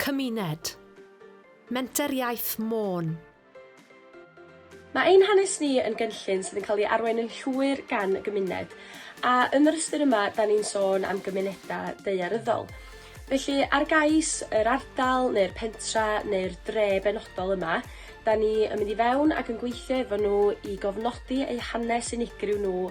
Cymuned. Menter Iaith Môn. Mae ein hanes ni yn gynllun sydd yn cael ei arwain yn llwyr gan y gymuned, a yn yr ystyr yma, da ni'n sôn am gymunedau daearyddol. Felly, ar gais yr ardal neu'r pentra neu'r dre benodol yma, da ni yn mynd i fewn ac yn gweithio efo nhw i gofnodi eu hanes unigryw nhw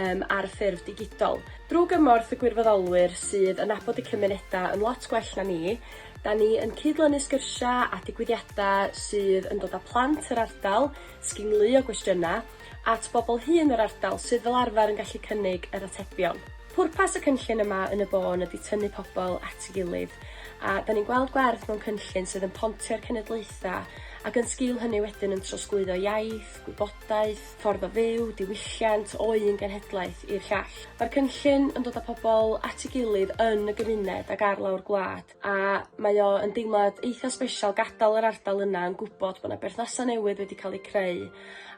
um, ar ffurf digidol. Drwy gymorth y gwirfoddolwyr sydd yn nabod y cymunedau yn lot gwell na ni, da ni yn cyd-lynu sgyrsiau a digwyddiadau sydd yn dod â plant yr ardal, sginglu o gwestiynau, at bobl hŷn yr ardal sydd fel arfer yn gallu cynnig yr atebion. Pwrpas y cynllun yma yn y bôn ydy tynnu pobl at ei gilydd, a da ni'n gweld gwerth mewn cynllun sydd yn pontio'r cenedlaethau ac yn sgil hynny wedyn yn trosglwyddo iaith, gwybodaeth, ffordd o fyw, diwylliant, o un genhedlaeth i'r llall. Mae'r cynllun yn dod â pobl at ei gilydd yn y gymuned ac ar lawr gwlad, a mae o yn deimlad eitha' sbesial gadael yr ardal yna yn gwybod bod 'na berthnasau newydd wedi cael eu creu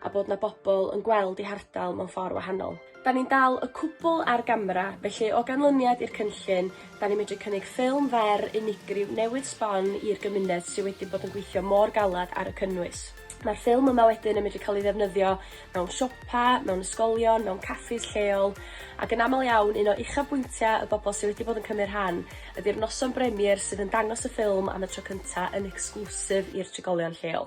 a bod 'na bobl yn gweld eu hardal mewn ffordd wahanol. Da ni'n dal y cwbl ar gamera, felly o ganlyniad i'r cynllun, da ni'n medru cynnig ffilm fer unigryw newydd sbon i'r gymuned sydd wedi bod yn gweithio mor galed ar y cynnwys. Mae'r ffilm yma wedyn yn medru cael ei ddefnyddio mewn siopa, mewn ysgolion, mewn caffis lleol, ac yn aml iawn un o uchafbwyntiau y bobl sydd wedi bod yn cymryd rhan ydy'r noson bremier sydd yn dangos y ffilm am y tro cyntaf yn ecsglwsif i'r trigolion lleol.